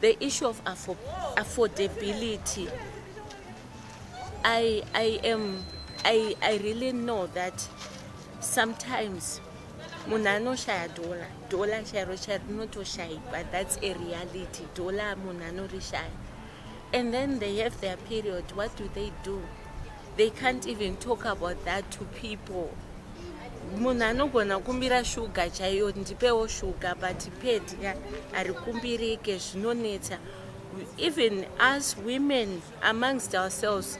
The issue of affo affordability I, I am I, I really know that sometimes munhu anoshaya dhola dhola chairo chairo rinotoshayi but that's a reality dhola munhu anorishaya and then they have their period what do they do They can't even talk about that to people. Munhu anogona kumbira shuga chaiyo ndipewo shuga but pedya harikumbirike zvinonetsa. Even us women amongst ourselves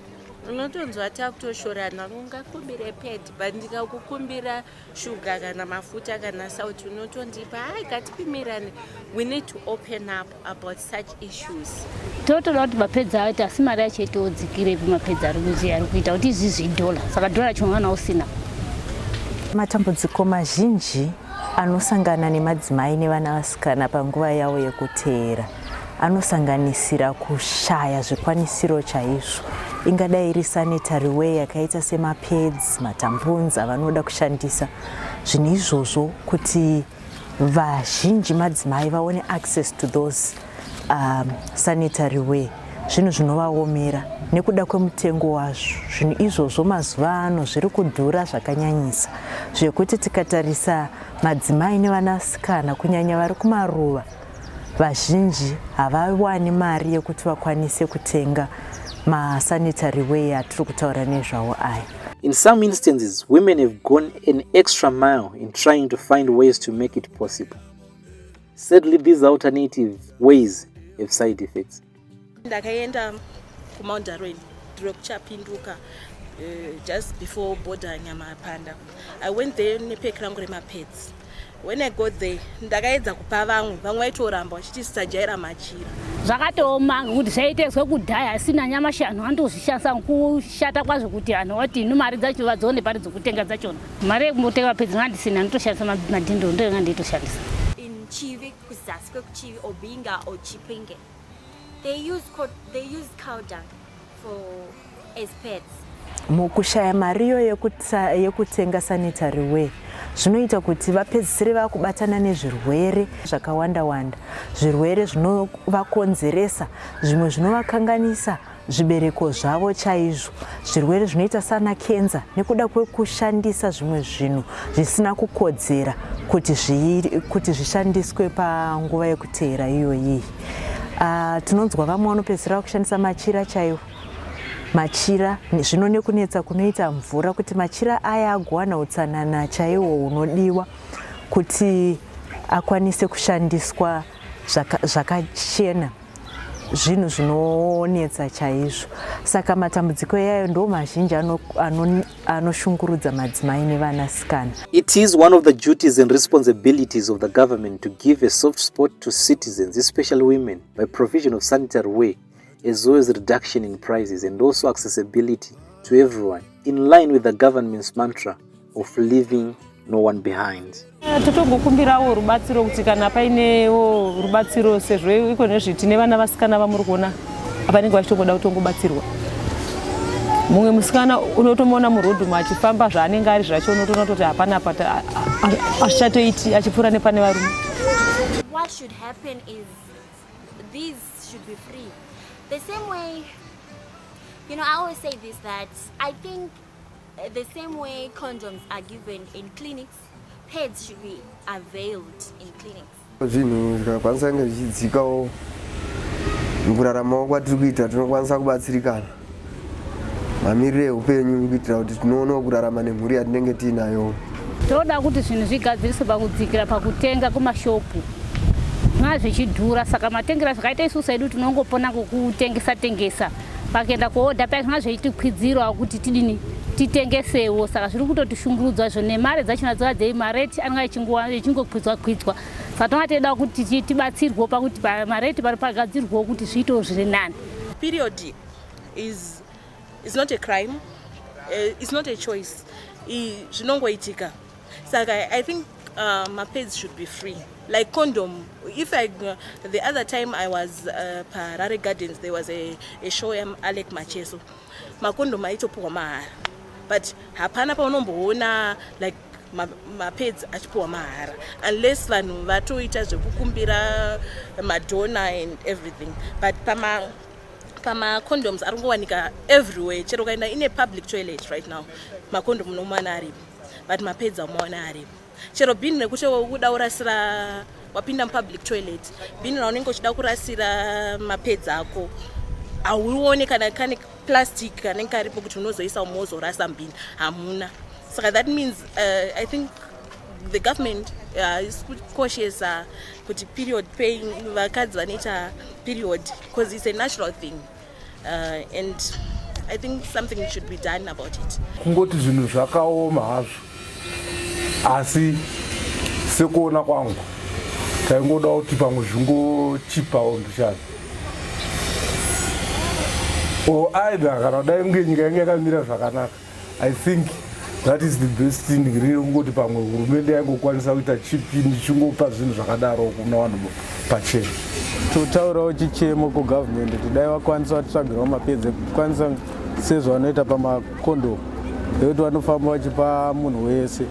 unotonzwa takutoshorana ungakumbire ped but ndikakukumbira shuga kana mafuta kana sauti unotondipa hai katipimirane we need to open up about such issues totoda kuti mapedzi aite asi mari yacho itodzikire ipi mapedzi ari kuziya ari kuita kuti izvizvi idhola saka dhola racho mwana usina matambudziko mazhinji anosangana nemadzimai nevana vasikana panguva yavo yekuteera anosanganisira kushaya zvikwanisiro chaizvo ingadai iri sanitary ware yakaita semapads matampunzi avanoda kushandisa zvinhu izvozvo kuti vazhinji madzimai vaone access to those um, sanitary ware zvinhu zvinovaomera nekuda kwemutengo wazvo zvinhu izvozvo mazuva ano zviri kudhura zvakanyanyisa zvekuti tikatarisa madzimai nevanasikana kunyanya vari kumaruva Vazhinji havawani mari yekuti vakwanise kutenga masanitary way atiri kutaura nezvawo aya. In some instances, women have gone an extra mile in trying to find ways to make it possible. Sadly, these alternative ways have side effects. ndakaenda kumount darwin ndiro kuchapinduka Eh, just before border nyamapanda i went there nepek rangu remapets when i got there ndakaedza kupa vamwe vamwe vaitoramba vachiti sisajaira machira zvakatooma kuti zvaitezwe kudhaya asina nyamashi anhu andozvishandisa kushata kwazvo kuti anhu wati inu mari dzacho vadzione pari dzokutenga dzachona mari yekumbotenga mapedzi ngandisina nditoshandisa madhindo ndoyo ngandiitoshandisa in chivik kuzasi kwekuchivi or binga or chipinge they use, they use cow dung for as pets mukushaya mariyo yekutenga sanitary way zvinoita kuti vapedzisire vakubatana nezvirwere zvakawanda wanda zvirwere zvinovakonzeresa zvimwe zvinovakanganisa zvibereko zvavo chaizvo zvirwere zvinoita sana kenza nekuda kwekushandisa zvimwe zvinhu zvisina kukodzera kuti kuti zvishandiswe panguva yekuteera iyoyi uh, tinonzwa vamwe vanopedzisira vakushandisa machira chaiwo machira zvino nekunetsa kunoita mvura kuti machira aya agowana utsanana chaiwo hunodiwa kuti akwanise kushandiswa zvakachena zaka zvinhu zvinonetsa chaizvo saka matambudziko iyayo ndo mazhinji anoshungurudza ano, ano madzimai nevanasikana it is one of the duties and responsibilities of the government to give a soft spot to citizens especially women by provision of sanitary way as well as reduction in prices and also accessibility to everyone in line with the government's mantra of leaving no one behind eh, totogokumbirawo rubatsiro kuti kana painewo rubatsiro sezvo iko nezve tine vana vasikana vamuri kuona avanenge vachitongoda kutongobatsirwa mumwe musikana unotomuona murodhumu achifamba zvaanenge ari zvacho unotoona toti hapana apa azvichatoiti achipfuura nepane varume The same way condoms are given in clinics, pads should be availed in clinics. Zvinhu zvikakwanisa kunge zvichidzikawo mukuraramawo kwatiri kuita tinokwanisa kubatsirikana mamiriro eupenyu kuitira kuti tinoonawo kurarama nemhuri yatinenge tiinayo. Tinoda kuti zvinhu zvigadziriswe pakudzikira pakutenga kumashopu zvinova zvichidhura saka matengera zvakaita isusu edu tinongopona kokutengesa tengesa. pakuenda kuoda paya zvanga zveitikwidzirwa kuti tidini titengesewo saka zviri kutotishungurudzwa zvo nemari dzachona dzova dzei mareti anenge echinguwa echingokwidzwa kwidzwa saka tonga teida kuti tibatsirwewo pakuti mareti pari pagadzirwewo kuti zviitewo zviri nani period is, is not a crime uh, is not a choice zvinongoitika saka i think uh, mapads should be free like condom if i uh, the other time i was uh, parare gardens there was a, a show am alec macheso makondom aitopuhwa mahara but hapana paunomboona like mapedzi ma achipuwa mahara unless vanhu vatoita zvekukumbira madona and everything but pama pamacondoms ari kungowanika everywhere chero ukaenda ine public toilet right now macondom unomuwana aripo but mapedza umaona aripo chero bhini rekuti ukuda kurasira wapinda mupublic toilet bhini raunenge uchida kurasira mapedzi ako hauone kana kane plastic kanenge karipo kuti unozoisa umwe wozorasa mbhini hamuna saka that means uh, i think the government uh, is kukoshesa kuti period paying vakadzi vanoita period because it's a natural thing Uh, and I think something should be done about it. Kungoti zvinhu zvakaoma hazvo asi sekuona kwangu taingoda kuti pamwe zvingochipawo mbichana o aida kana kudai kunge nyika yange yakamira zvakanaka I think that is the best thing riri kungoti pamwe hurumende yaingokwanisa kuita chipi ndichingopa zvinhu zvakadaro kuna vanhu pachena totaurawo chichemo kugavhmendi kuti dai vakwanisa vatitsvagirawo mapedzi ekukwanisa sezvavanoita pamakondomu ekuti vanofamba vachipa munhu wese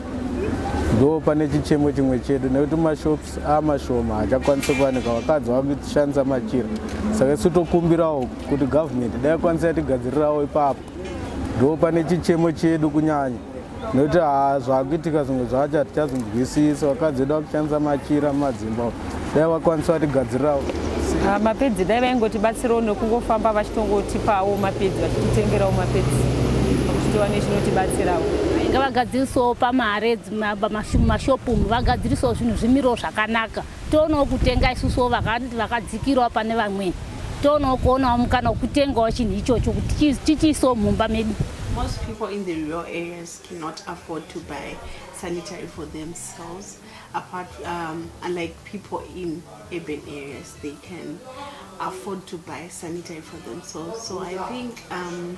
ndo pane chichemo chimwe chedu nekuti mashops amashoma hachakwanisi kuwanika vakadzi vakushandisa machira saka isu tokumbirawo kuti gavhmendi dai kwanisa yatigadzirirawo ipapo ndopane chichemo chedu kunyanya nokuti haa zvakuitika zvimwe zvacho hatichazvinzwisisa vakadzi vedu vakushandisa machira mumadzimba dai vakwanisa vatigadzirirawo ah, mapedzi dai vaingotibatsirawo nekungofamba vachitongotipawo mapedzi vachititengerawo mapedzi vachitiwa nechinotibatsirawo ngavagadzirisewo pamare mashopu umu vagadzirisewo zvinhu zvimiriwo zvakanaka toonawo kutenga isusuwo vakadzikirawo pane vamweni toonawo kuonawo mukana wekutengawo chinhu ichocho kuti tichiisawo mumba medu most people in the rural areas cannot afford to buy sanitary for themselves apart um, unlike people in urban areas they can afford to buy sanitary for themselves so i think um,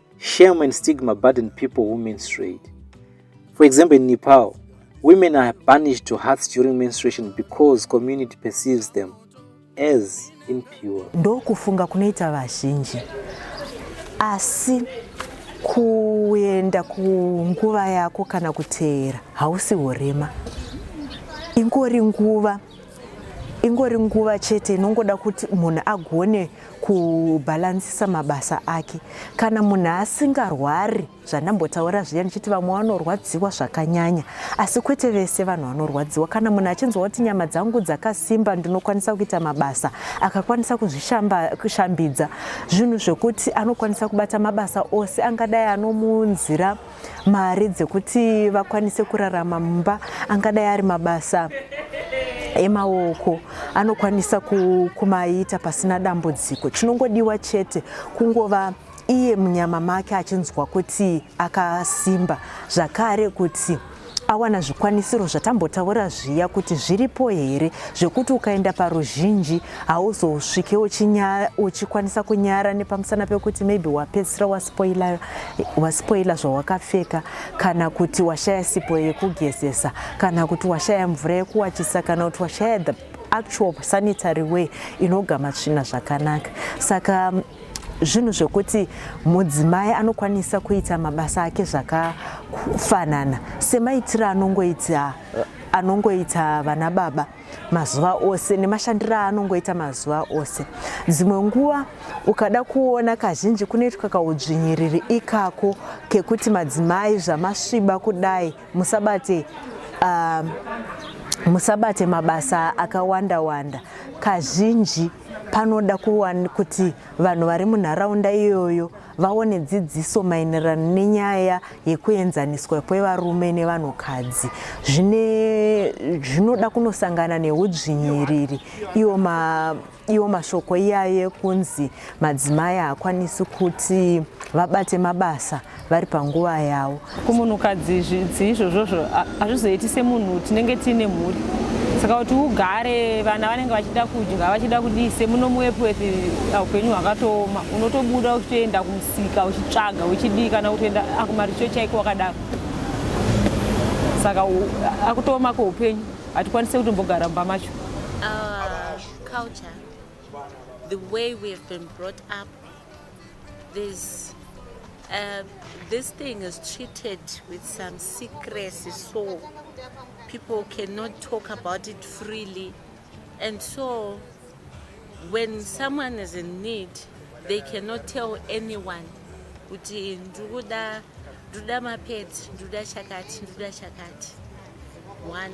Shame and stigma burden people who menstruate. For example, in Nepal, women are banished to huts during menstruation because community perceives them as impure. Ndokufunga kunoita vazhinji. Asi kuenda kunguva yako kana kuteera hausi urema. Ingori nguva ingori nguva chete inongoda kuti munhu agone kubhalansisa mabasa ake kana munhu asingarwari zvandambotaura zviya ndichiti vamwe vanorwadziwa zvakanyanya asi kwete vese vanhu vanorwadziwa kana munhu achinzwa kuti nyama dzangu dzakasimba ndinokwanisa kuita mabasa akakwanisa kuzvishambidza zvinhu zvekuti anokwanisa kubata mabasa ose angadai anomunzira mari dzekuti vakwanise kurarama mumba angadai ari mabasa emaoko anokwanisa kumaita pasina dambudziko chinongodiwa chete kungova iye munyama make achinzwa kuti akasimba zvakare kuti awana zvikwanisiro zvatambotaura zviya kuti zviripo here zvekuti ukaenda paruzhinji hauzosvike uchikwanisa kunyara nepamusana pekuti maybe wapedzisira waspoila waspoila zvawakapfeka kana kuti washaya sipo yekugezesa kana kuti washaya mvura yekuwachisa kana kuti washaya the actual sanitary way inogama tsvina zvakanaka saka zvinhu zvekuti mudzimai anokwanisa kuita mabasa ake zvakafanana semaitiro anongoita anongoita vana baba mazuva ose nemashandiro aanongoita mazuva ose dzimwe nguva ukada kuona kazhinji kunoitwa kaudzvinyiriri ikako kekuti madzimai zvamasviba kudai musabate uh, musabate mabasa akawanda wanda kazhinji panoda kuwani kuti vanhu vari munharaunda iyoyo vaone dzidziso maenderano nenyaya yekuenzaniswa kwevarume nevanhukadzi zvine zvinoda kunosangana neudzvinyiriri iwo ma iwo mashoko iyayo ekunzi madzimai haakwanisi kuti vabate mabasa vari panguva yavo kumunhukadzi zvidzi izvozvozvo hazvizoiti semunhu tinenge tiine mhuri saka kuti ugare vana vanenge vachida kudya vachida kudii semuno muepworth uh, upenyu hwakatooma unotobuda uchitoenda kumusika uchitsvaga uchidii kana kutoenda akumaricho ah, chaiko wakadaro saka akutooma kweupenyu hatikwanise kuti mbogara mumba macho uh, There's, uh, this thing is treated with some secrecy so people cannot talk about it freely and so when someone is in need they cannot tell anyone kuti ndikuda nduda mapedzi nduda chakati nduda chakati one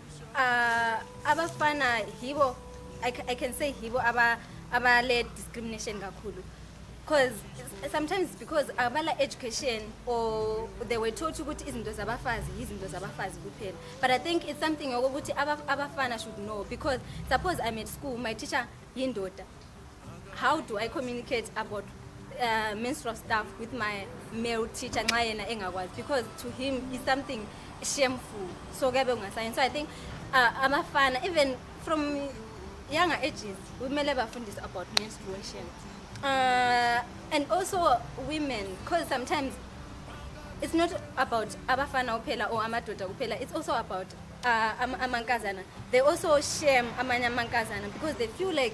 Uh, abafana hibo I, I can say hibo aba abale discrimination kakhulu because sometimes because abala education or they were taught ukuthi izinto zabafazi yizinto zabafazi kuphela but i think it's something yokuthi abafana should know because suppose i'm at school my teacher yindoda How do I communicate about uh, menstrual stuff with my male teacher nxa yena engakwazi because to him is something shameful so kuyabe kungasayini so i think uh, abafana even from younger ages kumele bafundise about menstruation uh, and also women because sometimes it's not about abafana kuphela or amadoda kuphela it's also about uh, amankazana they also shame amanye amankazana because they feel like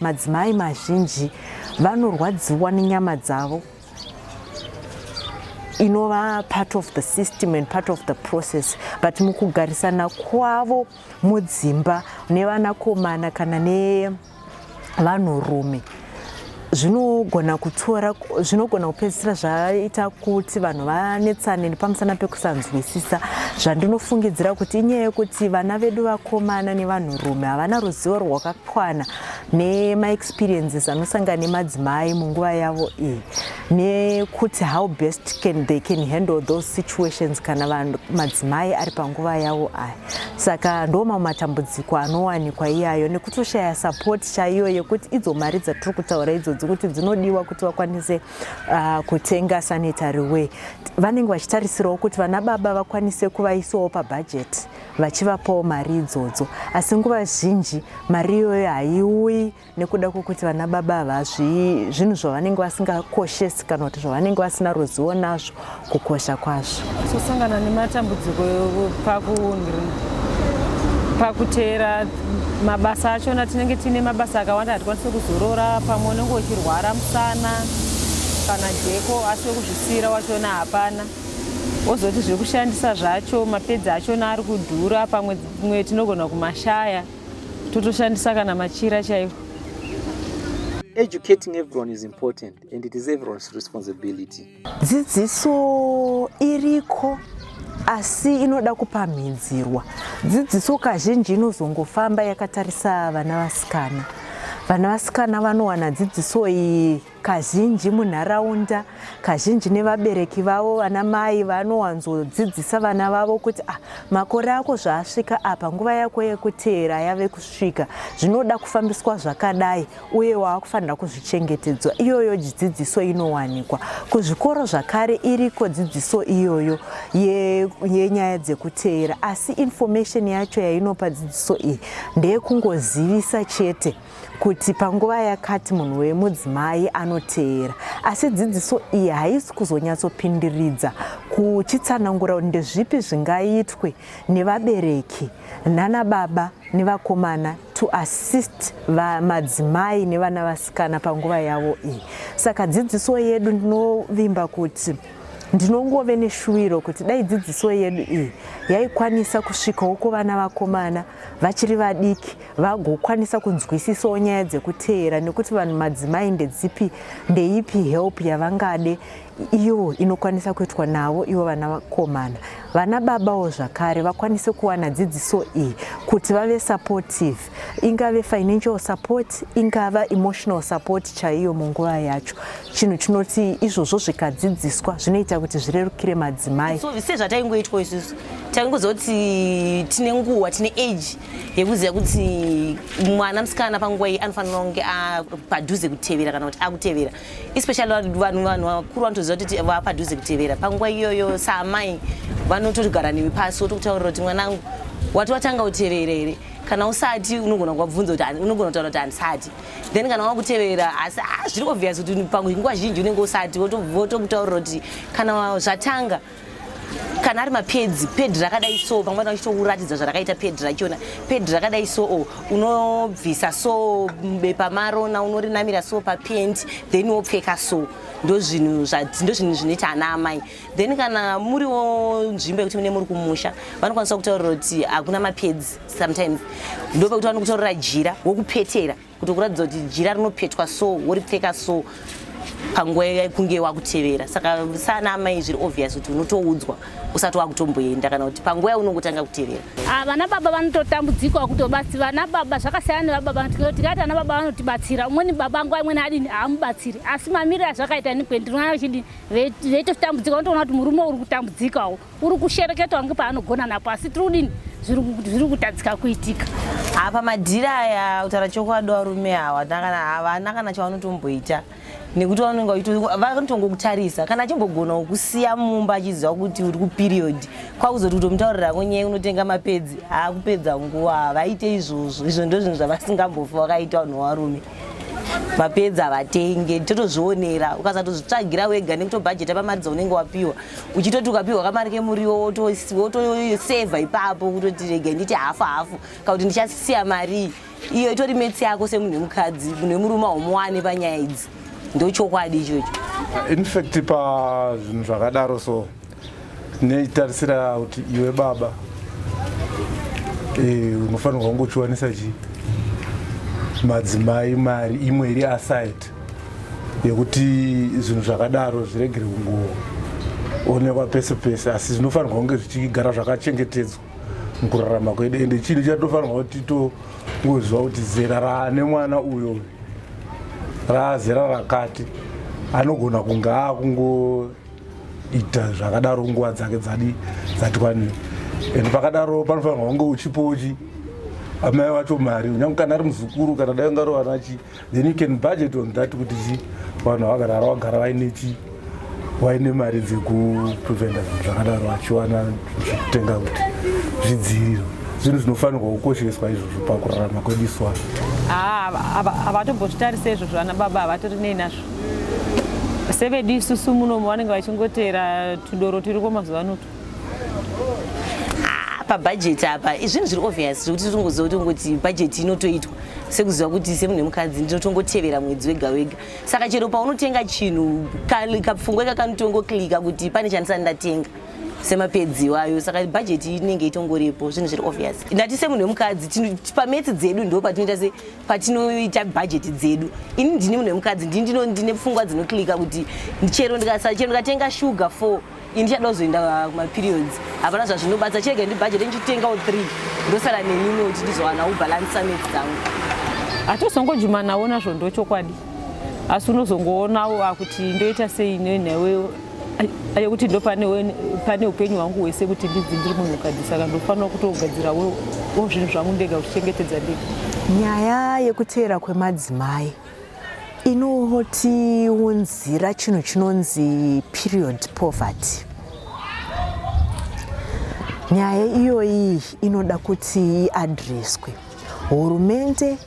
Madzimai mazhinji vanorwadziwa nenyama dzavo inova part of the system and part of the process but mukugarisana kwavo mudzimba nevanakomana kana nevanhurume zvinogona kutora zvinogona kupedzisira zvaita kuti vanhu vanetsane nepamusana pekusanzwisisa zvandinofungidzira kuti inyaya yekuti vana vedu vakomana nevanhurume havana ruzivo rwaka kwana nemaexperiences anosangana nemadzimai munguva yavo iyi nekuti how best can they can handle those situations kana vanhu madzimai ari panguva yavo aya saka ndo mamwe matambudziko anowanikwa iyayo nekutoshaya support chaiyo yekuti idzo mari dzatiri kutaura idzodzi kuti dzinodiwa kuti vakwanise uh, kutenga sanitary way vanenge vachitarisirawo kuti vana baba vakwanise kuvaisawo pabhajeti vachivapawo mari idzodzo asi nguva zhinji mari iyoyo haiuyi nekuda kwekuti vana baba ava zvinhu zvavanenge vasingakoshesi kana kuti zvavanenge vasina ruzivo nazvo kukosha kwazvo kusosangana nematambudziko pakuteera mabasa achona tinenge tiine mabasa akawanda hatikwanise kuzorora pamwe unenge uchirwara musana kana jeko asi wekuzvisiira wachona hapana ozoti zvekushandisa zvacho mapedzi achona ari kudhura pamwe mwe tinogona kumashaya totoshandisa kana machira chaiwo educating everyone is important and it is everyone's responsibility dzidziso iriko asi inoda kupamhidzirwa dzidziso kazhinji inozongofamba yakatarisa vana vasikana vana vasikana vanowana dzidziso iyi kazhinji munharaunda kazhinji nevabereki vavo vana mai vanowanzodzidzisa vana vavo kuti ah, makore ako zvaasvika apa nguva yako yekuteera yave kusvika zvinoda kufambiswa zvakadai uye waakufanira kuzvichengetedzwa iyoyo dzidziso inowanikwa kuzvikoro zvakare iriko dzidziso iyoyo yenyaya ye dzekuteera asi information yacho yainopa dzidziso iyi ndeyekungozivisa chete kuti panguva yakati munhu wemudzimai anoteera asi dzidziso iyi haisi kuzonyatsopindiridza kuchitsanangura ndezvipi zvingaitwe nevabereki nana baba nevakomana to assist vamadzimai nevana vasikana panguva yavo iyi saka dzidziso yedu ndinovimba kuti ndinongove neshuwiro kuti dai dzidziso yedu iyi yaikwanisa kusvikawo kuvana vakomana vachiri vadiki vagokwanisa kunzwisisawo nyaya dzekuteera nekuti vanhu madzimai ndedzipi ndeipi help yavangade iyo inokwanisa kuitwa navo ivo vana vakomana vana babawo zvakare vakwanise kuwana dzidziso iyi kuti vave supportive ingave financial support ingava emotional support chaiyo munguva yacho chinhu chinoti izvozvo zvikadzidziswa zvinoita kuti zvirerukire madzimai so, sezvataingoitwa isusu taingozoti tine nguva tine age yekuziva kuti mwana musikana panguva iyi anofanira kunge apadhuze kutevera kana kuti akutevera especially vanhu vanhu vakuru vanotoziva kuti vapadhuze kutevera panguva iyoyo saamai vanotorigara newe pasi wotokutaurira kuti mwanangu wati watanga kutevera here kana usati unogona kuvabvunza kuti unogona kutaura kuti handisati then kana wakutevera asi ah, zviri obvious kuti panguva zhinji unenge usati votokutaurira kuti kana zvatanga wa kana ari mapedzi pedhi rakadai so pamwe vachitokuratidza zvarakaita pedhi rachona pedhi rakadai so o unobvisa so bepa marona unorinamira so papenti then wopfeka so ndozvinhu ndozvinhu zvinoita ana amai then kana muriwo nzvimbo yekuti mune muri kumusha vanokwanisa kutaurira kuti hakuna mapedzi sometimes ndopekuti vanokutaurira jira wokupetera kuti kuratidza kuti jira rinopetwa so woripfeka so panguva yakunge wakutevera saka sana amai zviri obvious kuti unotoudzwa usati wakutomboenda kana kuti panguva yaunongotanga kutevera ah, vana baba vanototambudzikwa kutobatsi vana baba zvakasiyana nevababa tikati vana baba vanotibatsira umweni baba nguva imweni adini haamubatsiri asi mamiriro azvakaita nikwe ndinoona vachidi veitotambudzika unotoona kuti murume uri kutambudzikawo uri kushereketa wange paanogona napo asi tiri kudini zviri kutadzika kuitika apa madhiri aya kutaura chokwadi varume hawa havana kana chavanotomboita nekuti vanotongokutarisa kana achimbogona kukusiya mumba achiziva kuti uri kuperiodi kwakuzoti kutomutaurira konyaya unotenga mapedzi akupedza nguva havaite izvozvo izvo ndozvinhu zvavasingambofi vakaita vanhu varume vapedza vatenge totozvionera ukasatozvitsvagira wega nekutobhajeta pamari dzaunenge wapiwa uchitoti ukapiwa kamari kemuriwo wotosevha ipapo kutoti rega nditi hafu hafu kana kuti ndichasiya marii iyo itori metsi yako semunhu wemukadzi munhu wemurume haumowane panyaya idzi ndochokwadi ichocho infact pazvinhu zvakadaro so neitarisira kuti iwe baba eh, unofanirwa kunge uchiwanisa chi madzimai mari imwe iri aside yekuti zvinhu zvakadaro zviregere kungoonekwa pese pese asi zvinofanirwa kunge zvichigara zvakachengetedzwa mukurarama kwedu ende chinhu chatofanirwa kuti tongoziva kuti zera raane mwana uyo raazera rakati anogona kunge akungo ita zvakadaro nguva dzake dzadi dzati kwane and pakadaro panofanirwa kunge uchipochi amai vacho mari unyange kana ari muzukuru kana dai ungaro vanachi then you can budget on that kuti chi vanhu vakarara vagara vaine chi vaine mari dzekupreventa zvinhu zvakadaro vachiwana zvekutenga kuti zvidziiriro zvinhu zvinofanirwa kukosheswa izvozvo pakurarama kwedu iswa havatombozvitarise izvozvo ana baba havatori nei nazvo sevedu isusu muno vanenge vachingoteera tudoro turiko mazuva anoto ah, pabhajeti apa izvinhu zviri obvious zvekuti tongoziva kuti ungoti bhajeti inotoitwa sekuziva kuti semunhu wemukadzi ndinotongotevera mwedzi wega wega saka chero paunotenga chinhu kapfungwa ika kanotongoklika kuti pane chandisati ndatenga semapedzi iwayo saka bhajeti inenge itongoripo zvinhu zviri obvious ndati semunhu wemukadzi pametsi dzedu ndo patinoita se patinoita bhajeti dzedu ini ndini munhu wemukadzi ndini ndino ndine pfungwa dzinoklika kuti chero ndikasa chero ndikatenga shuga four ini ndichada kuzoenda kumaperiods hapana zvazvinobatsa chirega ndi bhajeti ndichitengawo three ndosara nemimwe kuti ndizowana ubalansa meti dzangu hatozongojumanawo nazvo ndochokwadi asi unozongoonawo akuti ndoita sei nenewe ayo kuti ndo pane upenyu hwangu hwese kuti ndidzi ndiri munhukadzi saka ndofanira kutogadzirawo zvinhu zvangu ndega kuchengetedza ndega nyaya yekuteera kwemadzimai inotiunzira chinhu chinonzi period poverty nyaya iyoyi inoda kuti iadreswe Hurumende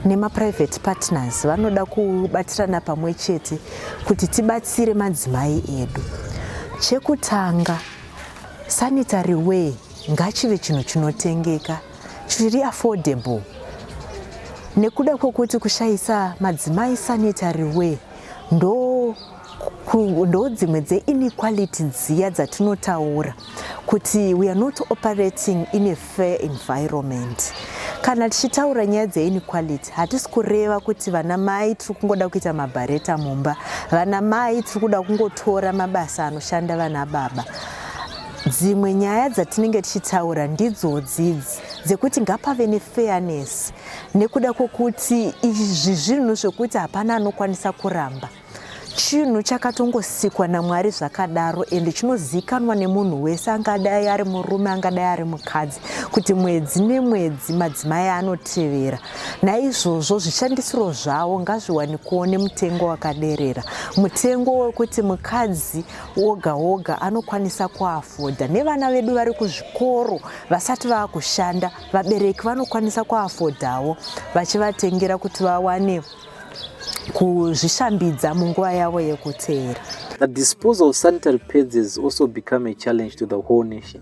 nemaprivate partners vanoda kubatirana pamwe chete kuti tibatsire madzimai edu. Chekutanga, sanitary way ngachive chinhu chinotengeka chiri affordable nekuda kwekuti kushaisa madzimai sanitary way ndo ndodzimwe dzeinequality dziya dzatinotaura kuti we are not operating in a fair environment kana tichitaura nyaya dzeinequality hatisi kureva kuti vana mai tiri kungoda kuita mabhareta mumba vana mai tiri kuda kungotora mabasa anoshanda vana baba dzimwe nyaya dzatinenge tichitaura ndidzodzidzi dzekuti ngapave nefairness nekuda kwokuti izvi zvinhu zvekuti hapana anokwanisa kuramba chinhu chakatongosikwa namwari zvakadaro ende chinozivikanwa nemunhu wese angadai ari murume angadai ari mukadzi kuti mwedzi nemwedzi madzimai anotevera naizvozvo zvishandisiro zvavo ngazviwanikowo nemutengo wakaderera mutengo wekuti mukadzi woga woga anokwanisa kuafodha nevana vedu vari kuzvikoro vasati vava kushanda vabereki vanokwanisa kuafodhawo vachivatengera kuti vawane kuzvishambidza munguva yavo yekuteera. The disposal of sanitary pads has also become a challenge to the whole nation.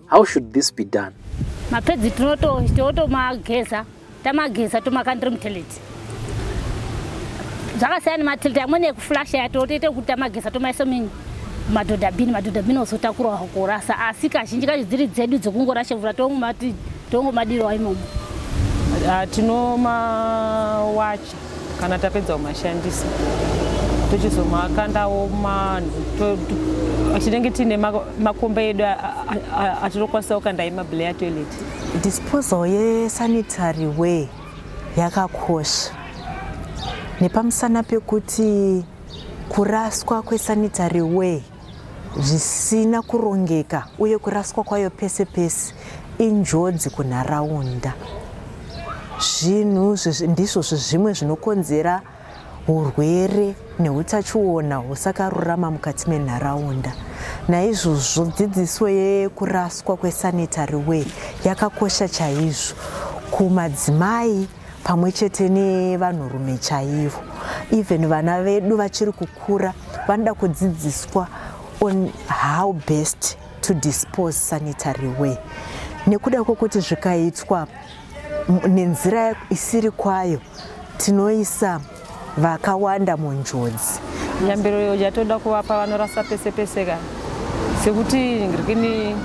How should this be done? Mapedzi tinotomageza tamageza tomakandira muteleti zvakasiyana nemateleti amweni ekuflasha yatotoite kuti tamageza tomaisa minyi madhodhabhini madhodhabhini ozotakurwa kurasa asi kazhinji kacho dziri dzedu dzekungorasha mvura tomati Tongomadirwa imomo. Ah, tinomawacha kana tapedza kumashandisa tochizomakandawo tinenge tiine makomba edu atinokwanisa kukanda emable atoilet disposal yesanitary way yakakosha nepamusana pekuti kuraswa kwesanitary way zvisina kurongeka uye kuraswa kwayo pese pese injodzi kunharaunda. Zvinhu ndizvo zvimwe zvinokonzera urwere neutachiona husakarurama mukati menharaunda naizvozvo dzidziso yekuraswa kwesanitary way yakakosha chaizvo kumadzimai pamwe chete nevanhurume chaivo even vana vedu vachiri kukura vanoda kudzidziswa on how best to dispose sanitary way nekuda kwekuti zvikaitwa nenzira isiri kwayo tinoisa vakawanda munjodzi. Nyambiro iyo yatoda kuvapa vanorasa pese pese ka sekuti ngirikini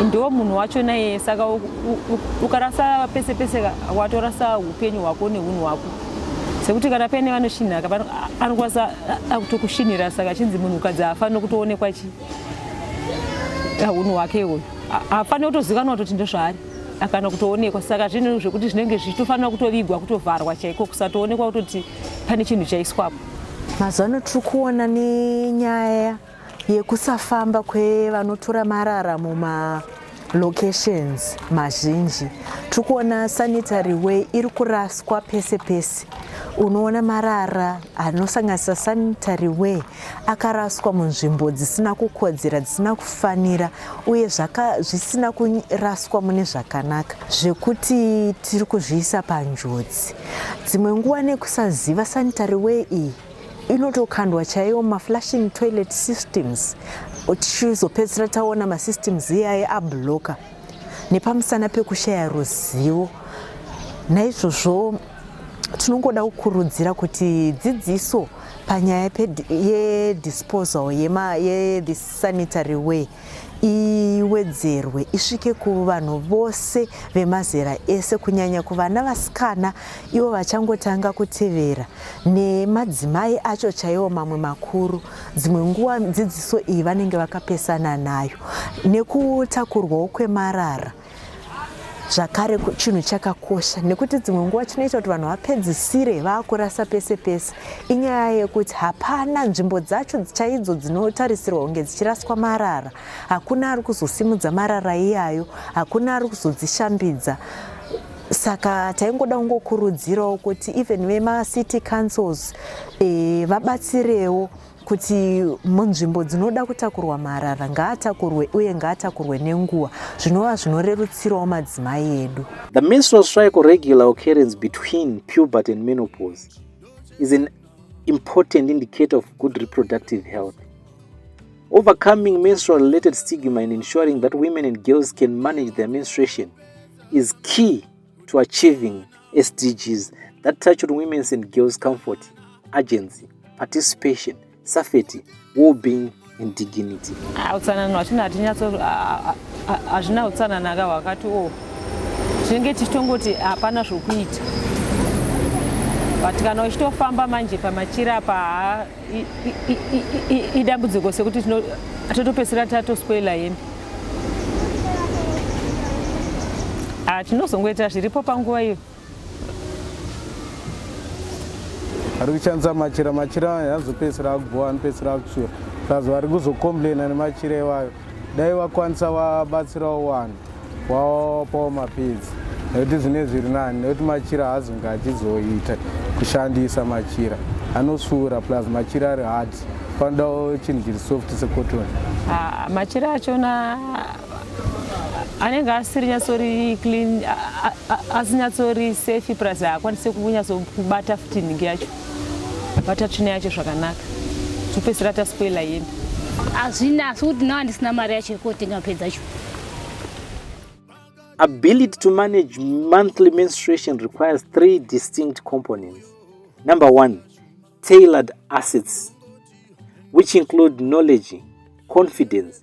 ndiwo munhu wacho naye saka ukarasa pese pese ka watorasa upenyu hwako neunhu hwako sekuti kana paine vanoshinhaka anokwanisa akutokushinhira saka achinzi munhu ukadzi haafanire kutoonekwa chi unhu hwake iwoyo haafanire kutozikanwa kutoti ndozvaari akana kutoonekwa saka zvinhu zvekuti zvinenge zvichitofanira kutovigwa kutovharwa chaiko kusatoonekwa kutoti pane chinhu chaiswapo mazuva ano tiri kuona nenyaya yekusafamba kwevanotora marara muma locations mazhinji tiri kuona sanitary way iri kuraswa pese pese unoona marara anosanganisa sanitary way akaraswa munzvimbo dzisina kukodzera dzisina kufanira uye zvisina kuraswa mune zvakanaka zvekuti tiri kuzviisa panjodzi dzimwe nguva nekusaziva sanitary way iyi inotokandwa chaiwo maflashing toilet systems tichizopedzisira taona masystems iyayi abloka nepamusana pekushaya ruzivo naizvozvo tinongoda kukurudzira kuti dzidziso panyaya yedisposal yesanitary ye way iwedzerwe isvike kuvanhu vose vemazera ese kunyanya kuvana vasikana ivo vachangotanga kutevera nemadzimai acho chaiwo mamwe makuru dzimwe nguva dzidziso iyi vanenge vakapesana nayo nekutakurwawo kwemarara zvakare chinhu chakakosha nekuti dzimwe nguva chinoita kuti vanhu vapedzisire vakurasa pese pese inyaya yekuti hapana nzvimbo dzacho chaidzo dzinotarisirwa kunge dzichiraswa marara hakuna ari kuzosimudza marara iyayo hakuna ari kuzodzishambidza saka taingoda kungokurudzirawo kuti even vemacity councils e, vabatsirewo e, kuti munzvimbo dzinoda kutakurwa marara ngaatakurwe uye ngaatakurwe nenguva zvinova zvinorerutsirawo madzimai edu the menstrual cycle regular occurrence between pubert and menopause is an important indicator of good reproductive health overcoming menstrual related stigma and ensuring that women and girls can manage their menstruation is key to achieving sdgs that touch on women's and girls comfort agency participation safety wellbeing and dignity ah, utsanana hwatino hatinyatso ah, ah, hazvina utsanana ka hwakati o oh. tinenge tichitongoti hapana zvokuita but kana uchitofamba manje pamachira apa idambudziko sekuti totopedzisira tatospoila hembe ah, tinozongoita zviripo panguva iyo ari kushandisa machira machira anozopedzisira aguwa anopedzisira akusvira sazi vari kuzocomplaina nemachira iwayo dai vakwanisa vabatsirawo wani wawapawo mapedzi nekuti zvine zviri nani nekuti machira haazonge achizoita kushandisa machira anosvuura plus machira ari hard panodawo chinhu chiri soft secoton ah, machira achona anenge asiri nyatsori clean asinyatsori safe plus haakwanisi kunyatsobata futi nhingi yacho bata tsvina yacho zvakanaka topedzisira taspoila yeni hazvina asi kuti nawa ndisina mari yacho yekotenga pedza cho ability to manage monthly menstruation requires three distinct components number one tailored assets which include knowledge confidence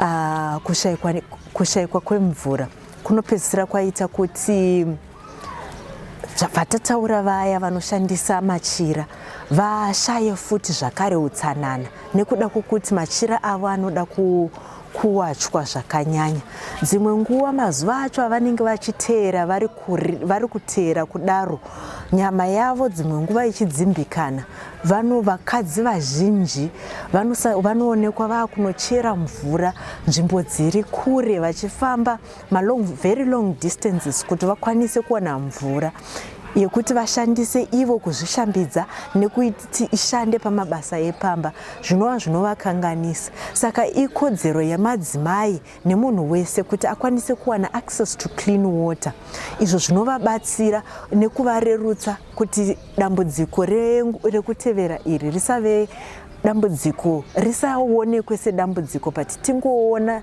Uh, kushaikwa, kushaikwa kwemvura kunopedzisira kwaita kuti zvatataura vaya vanoshandisa machira vashaye futi zvakare utsanana nekuda kwokuti machira avo anoda ku kuwachwa zvakanyanya dzimwe nguva mazuva acho avanenge vachiteera vari kuteera kudaro nyama yavo dzimwe nguva ichidzimbikana Vano vakadzi vazhinji vanoonekwa vakunochera mvura nzvimbo dziri kure vachifamba malong very long distances kuti vakwanise kuwana mvura yekuti vashandise ivo kuzvishambidza nekuti ishande pamabasa epamba zvinova zvinovakanganisa saka ikodzero yemadzimai nemunhu wese kuti akwanise kuwana access to clean water izvo zvinovabatsira nekuvarerutsa kuti dambudziko rekutevera iri risave dambudziko risaonekwe sedambudziko but tingoona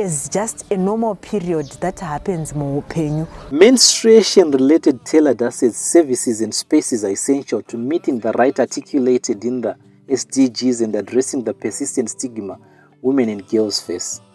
as just a normal period that happens muupenyu menstruation related tailor dusted services and spaces are essential to meeting the right articulated in the sdgs and addressing the persistent stigma women and girls face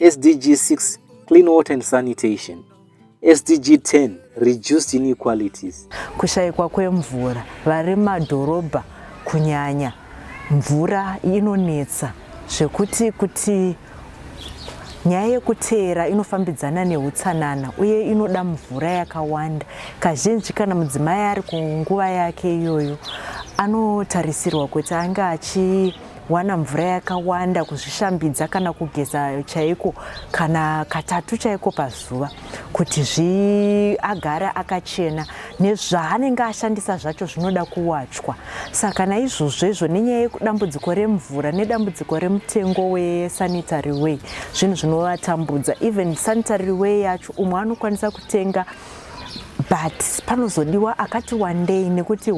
SDG 6 Clean Water and Sanitation, SDG 10 Reduced Inequalities. Kushaikwa kwemvura vari madhorobha kunyanya mvura inonetsa zvekuti kuti nyaya yekuteera inofambidzana neutsanana uye inoda mvura yakawanda kazhinji kana mudzimai ari kunguva yake iyoyo anotarisirwa kuti ange achi wana mvura yakawanda kuzvishambidza kana kugeza chaiko kana katatu chaiko pazuva kuti zviagare akachena nezvaanenge ashandisa zvacho zvinoda kuwachwa saka naizvozvo izvo nenyaya yedambudziko remvura nedambudziko remutengo wesanitary way zvinhu zvinovatambudza even sanitary way yacho umwe anokwanisa kutenga but panozodiwa akati wandei nekuti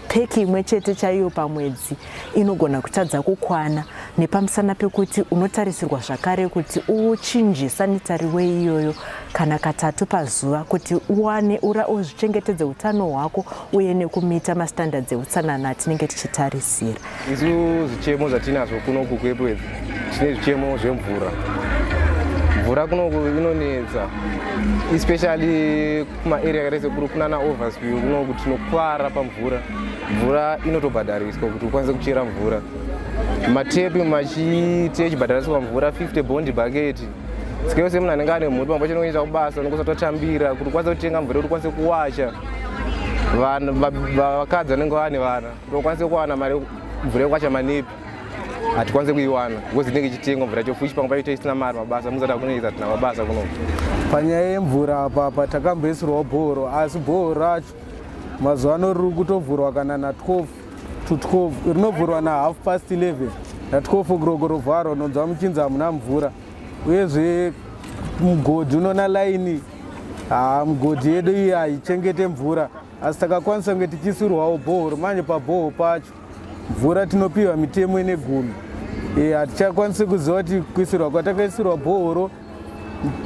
peki imwe chete chaiyo pamwedzi inogona kutadza kukwana nepamusana pekuti unotarisirwa zvakare kuti uchinje sanitari we iyoyo kana katatu pazuva kuti uwane ura uzvichengetedze utano hwako uye nekumita mastandards eutsanana atinenge tichitarisira Isu zvichemo zvatinazvo kuno kuKwepwedzi tine zvichemo zvemvura. Mvura kunoku inonetsa especially kumaarea akaita sekuru kunana overspew kunoku tinokwara pamvura. Mvura inotobhadhariswa kuti ukwanise kuchera mvura. Matepi machiti echibhadhariswa mvura 50 bond bucket sike yose munhu anenge ane mhuri pamwe pacho nekunyita kubasa unenge usatotambira kuti ukwanise kutenga mvura kuti ukwanise kuwacha vakadzi vanenge vane vana Ndokwanise kuwana mari mvura yekwacha manipi hatikwanise kuiwana because inenge ichitengwa mvura yacho fuchi pamwe paite isina mari mabasa muzada kunoita tina mabasa kuno panyaya yemvura apapa takamboisirwa bhoro asi bhoro racho mazuva ano riri kutovhurwa kana na 12 to 12 rinovhurwa na half past 11 na 12 o'clock rovharwa unonzwa muchinzi hamuna mvura uyezve mugodhi unona laini haa mugodhi yedu iyi haichengete mvura asi takakwanisa kunge tichisurwawo bhohoro manje pabhoho pacho mvura tinopiwa mitemo ine gumi eh, hatichakwanisi kuziva kuti kuisirwa kwatakaisirwa bhohoro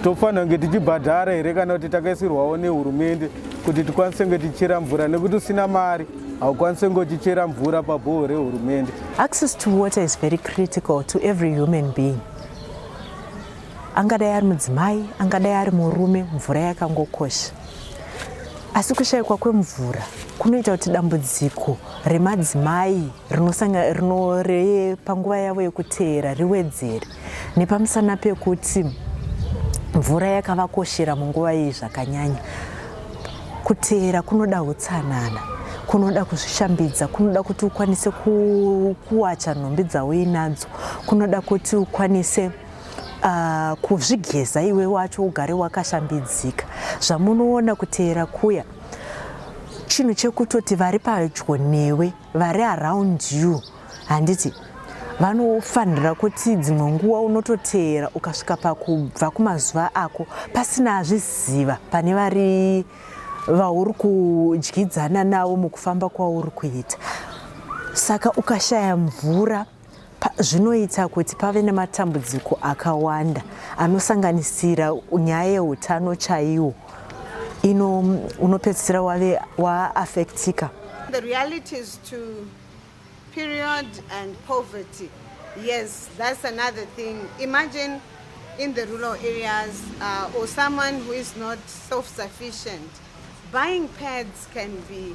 tofanira kunge tichibhadhara here kana kuti takaisirwawo nehurumende kuti tikwanise kunge tichera mvura nekuti usina mari haukwanise kunge uchichera mvura pabhoho rehurumende access to water is very critical to every human being angadai ari mudzimai angadai ari murume mvura yakangokosha asi kushayikwa kwemvura kunoita kuti dambudziko remadzimai rinorepanguva yavo yekuteera riwedzere nepamusana pekuti mvura yakavakoshera munguva iyi zvakanyanya kuteera kunoda utsanana kunoda kuzvishambidza kunoda kuti ukwanise kuwacha nhumbi dzauinadzo kunoda kuti ukwanise Uh, kuzvigeza iwe wacho ugare wakashambidzika zvamunoona kuteera kuya chinhu chekutoti vari padyo newe vari around you handiti vanofanira kuti dzimwe nguva unototeera ukasvika pakubva kumazuva ako pasina azviziva pane vari vauri kudyidzana navo mukufamba kwauri kuita saka ukashaya mvura zvinoita kuti pave nematambudziko akawanda anosanganisira nyaya yeutano chaiwo ino unopedzisira wave waaffectika The reality is to period and poverty. Yes, that's another thing. Imagine in the rural areas uh, or someone who is not self-sufficient, buying pads can be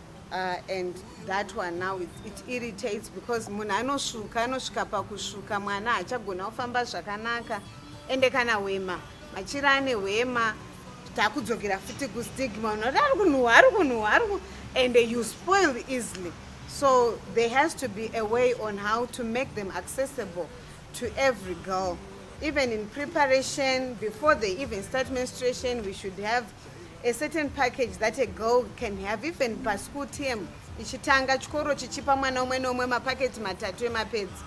Uh, and that one now it, it irritates because munhu anosvuka anosvika pakusvuka mwana hachagona kufamba zvakanaka ende kana hwema machira ane hwema takudzokera futi kustigma unoti ari kunhuhwa ari kunhuhwa ari ku and you spoil easily so there has to be a way on how to make them accessible to every girl even in preparation before they even start menstruation we should have a certain package that a girl can have even paschool term ichitanga chikoro chichipa mwana umwe neumwe mapaketi matatu emapedzi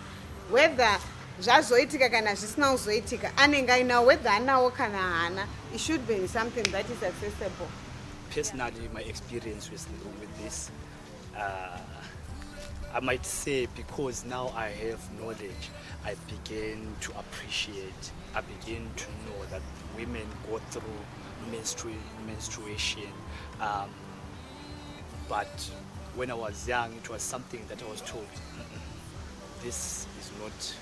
whether zvazoitika kana zvisina kuzoitika anenge ainawo whether anawo kana haana it should be something that is accessible personally my experience with, with this Uh, I might say because now I have knowledge, I begin to appreciate, I begin to know that women go through menstru menstruation. Um, but when I was young, it was something that I was told, this is not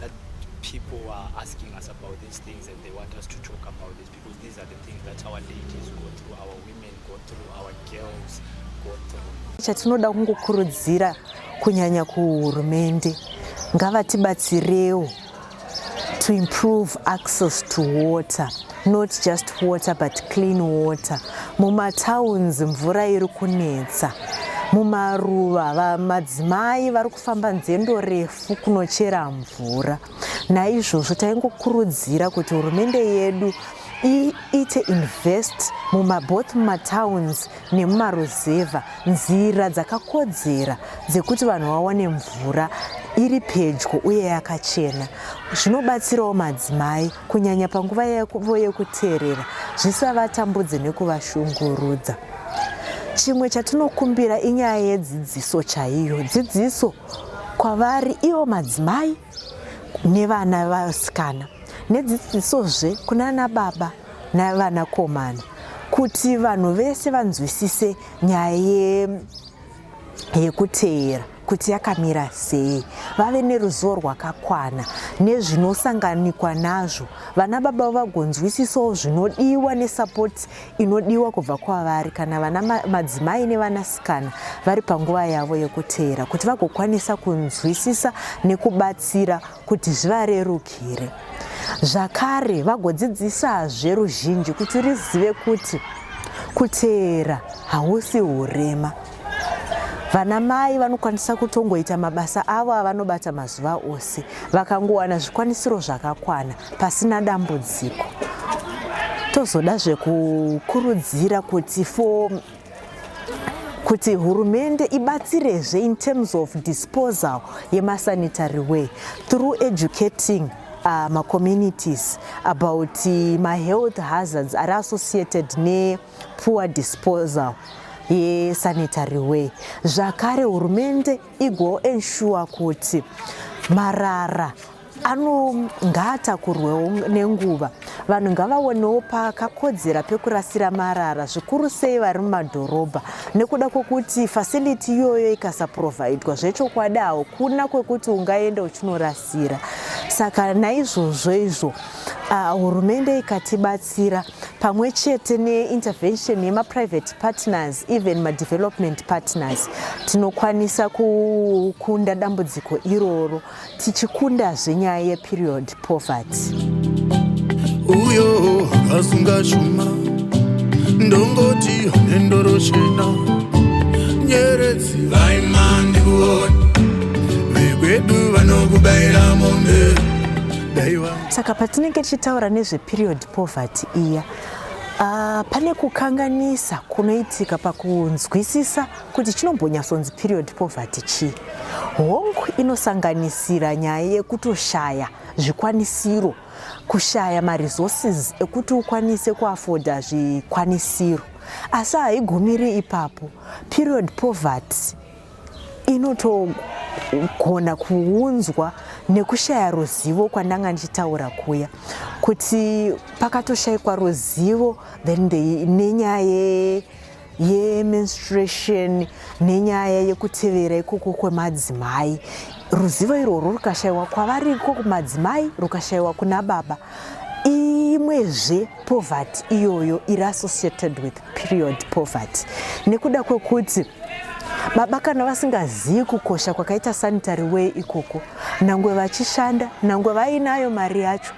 that people are asking us about these things and they want us to talk about this because these are the things that our ladies go through, our women go through, our girls go through. Chatinoda kungokurudzira kunyanya kuhurumende ngavatibatsirewo to improve access to water not just water but clean water mumatowns mvura iri kunetsa mumaruva madzimai vari kufamba nzendo refu kunochera mvura naizvozvo taingokurudzira kuti hurumende yedu iite invest mumaboth mumatowns nemumaruzevha nzira dzakakodzera dzekuti vanhu vawane mvura iri pedyo uye yakachena zvinobatsirawo madzimai kunyanya panguva yavo yekuteerera zvisavatambudze nekuvashungurudza chimwe chatinokumbira inyaya yedzidziso chaiyo dzidziso kwavari ivo madzimai nevana vasikana nedzidzisozve kunana baba navanakomana kuti vanhu vese vanzwisise nyaya yekuteera kuti yakamira sei vave neruzivo rwakakwana nezvinosanganikwa nazvo vana baba vagonzwisisawo zvinodiwa nesapoti inodiwa kubva kwavari kana vana madzimai nevanasikana vari panguva yavo yekuteera kuti vagokwanisa kunzwisisa nekubatsira kuti zvivarerukire zvakare vagodzidzisazve ruzhinji kuti rizive kuti kuteera hausi urema Vanamai vanokwanisa kutongoita mabasa avo avanobata mazuva ose vakangowana zvikwanisiro zvakakwana pasina dambudziko. Tozoda zvekukurudzira kuti for kuti hurumende ibatsirezve in terms of disposal yemasanitary way through educating uh, macommunities about uh, mahealth hazards ari associated ne poor disposal yesanitary way zvakare hurumende igo ensure kuti marara anongaatakurwewo nenguva vanhu ngavaonewo pakakodzera pekurasira marara zvikuru sei vari mumadhorobha nekuda kwokuti facility iyoyo ikasaprovidwa zvechokwadi haukuna kwekuti ungaenda uchinorasa zira saka naizvozvo izvo ah, hurumende uh, ikatibatsira pamwe chete neintervention yemaprivate partners even madevelopment partners tinokwanisa kukunda dambudziko iroro tichikundazve nyaya yeperiod poverty uyo akasunga chuma ndongoti nendoro chena nyeredzi vaima ndikuona vekwedu vanokubaira mombe saka patinenge tichitaura nezveperiod poverty iya Uh, pane kukanganisa kunoitika pakunzwisisa kuti chinombonyatsonzi period poverty chii hongu inosanganisira nyaya yekutoshaya zvikwanisiro kushaya maresources ekuti ukwanise kuafoda zvikwanisiro asi haigumiri ipapo period poverty inotogona kuunzwa nekushaya ruzivo kwandanga ndichitaura kuya kuti pakatoshaikwa ruzivo then nenyaya yemenstruation nenyaya yekutevera ikoko kwemadzimai ruzivo irworwo rukashayiwa kwavari iko kumadzimai rukashayiwa kuna baba imwezve poverty iyoyo iri associated with period poverty nekuda kwekuti baba kana vasingazivi kukosha kwakaita sanitary way ikoko nangwe vachishanda nangwe vainayo mari yacho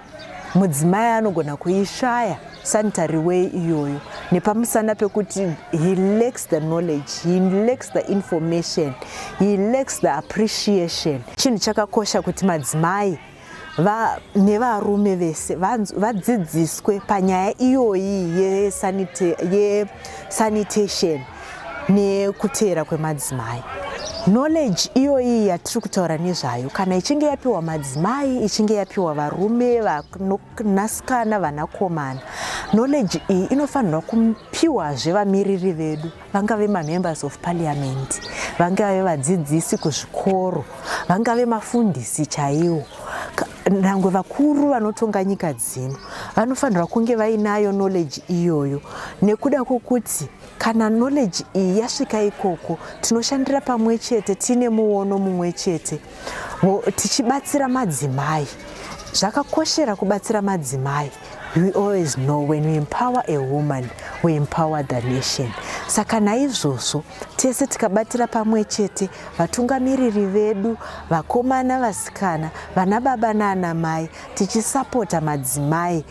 mudzimai anogona kuishaya sanitary way iyoyo nepamusana pekuti he lacks the knowledge he lacks the information he lacks the appreciation chinhu chakakosha kuti madzimai nevarume vese vadzidziswe panyaya iyoyi yesanitation ye nekuteera kwemadzimai knowledge iyoyi yatiri kutaura nezvayo kana ichinge yapiwa madzimai ichinge yapiwa varume vanasikana vanakomana knowledge iyi inofanirwa kupiwazve vamiriri vedu vangave mamembers of parliament vangave vadzidzisi kuzvikoro vangave mafundisi chaiwo nyangwe vakuru vanotonga nyika dzino vanofanirwa kunge vainayo knowledge iyoyo nekuda kwokuti Kana knowledge iyi yasvika ikoko, tinoshandira pamwe chete tiine muono mumwe chete tichibatsira madzimai. Zvakakoshera kubatsira madzimai. We always know when we empower a woman, we empower the nation. Saka naizvozvo tese tikabatira pamwe chete vatungamiriri vedu, vakomana, vasikana, vana baba nana mai, tichisapota madzimai.